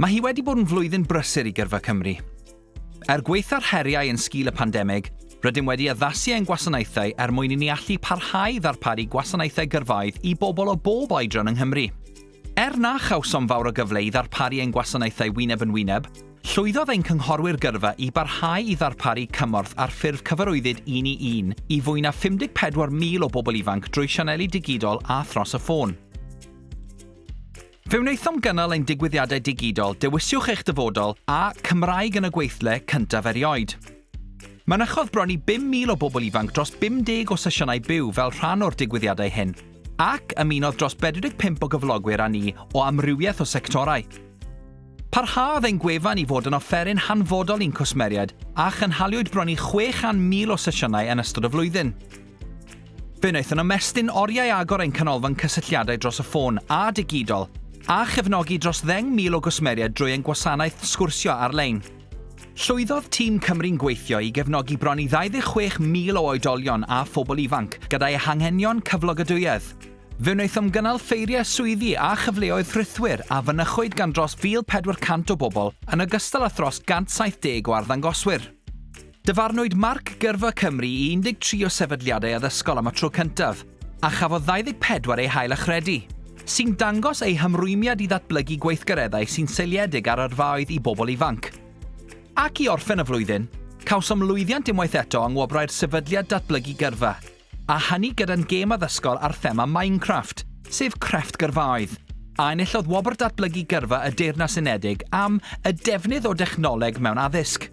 Mae hi wedi bod yn flwyddyn brysur i Gyrfa Cymru. Er gwaetha'r heriau yn sgil y pandemig, rydym wedi addasu ein gwasanaethau er mwyn i ni allu parhau i ddarparu gwasanaethau gyrfaoedd i bobl o bob oedran yng Nghymru. Er na chawsom fawr o gyfle i ddarparu ein gwasanaethau wyneb yn wyneb, llwyddodd ein cynghorwyr gyrfa i barhau i ddarparu cymorth ar ffurf cyfarwyddyd un i un i fwy na 54,000 o bobl ifanc drwy sianeli digidol a thros y ffôn. Fe wnaethom gynnal ein digwyddiadau digidol Dewiswch eich Dyfodol a Cymraeg yn y Gweithle cyntaf erioed. Mynychodd bron i 5,000 o bobl ifanc dros 50 o sesiynau byw fel rhan o'r digwyddiadau hyn, ac ymunodd dros 45 o gyflogwyr â ni o amrywiaeth o sectorau. Parhaodd ein gwefan i fod yn offeryn hanfodol i'n cwsmeriaid a chynhaliwyd bron i 600,000 o sesiynau yn ystod y flwyddyn. Fe wnaethon ymestyn oriau agor ein canolfan cysylltiadau dros y ffôn a digidol, a chefnogi dros ddeng mil o gwsmeriaid drwy ein gwasanaeth sgwrsio ar-lein. Llwyddodd tîm Cymru'n Gweithio i gefnogi bron i 26,000 o oedolion a phobl ifanc gyda'i hanghenion cyflogadwyedd. Fe wnaethom gynnal ffeiriau swyddi a chyfleoedd rhithwir a fynychwyd gan dros 1,400 o bobl yn ogystal â thros 170 o arddangoswyr. Dyfarnwyd marc gyrfa Cymru i 13 o sefydliadau addysgol am y tro cyntaf, a chafodd 24 eu hail-achredu, sy'n dangos eu hymrwymiad i ddatblygu gweithgareddau sy'n seiliedig ar yrfaoedd i bobl ifanc. Ac i orffen y flwyddyn, cawsom lwyddiant unwaith eto yng Ngwobrau'r Sefydliad Datblygu Gyrfa, A hynny gyda'n gêm addysgol ar thema Minecraft, sef crefft gyrfaoedd, a enillodd Wobr Datblygu Gyrfa y Deyrnas Unedig am y defnydd o dechnoleg mewn addysg.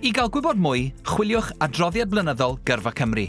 I gael gwybod mwy, chwiliwch Adroddiad Blynyddol Gyrfa Cymru.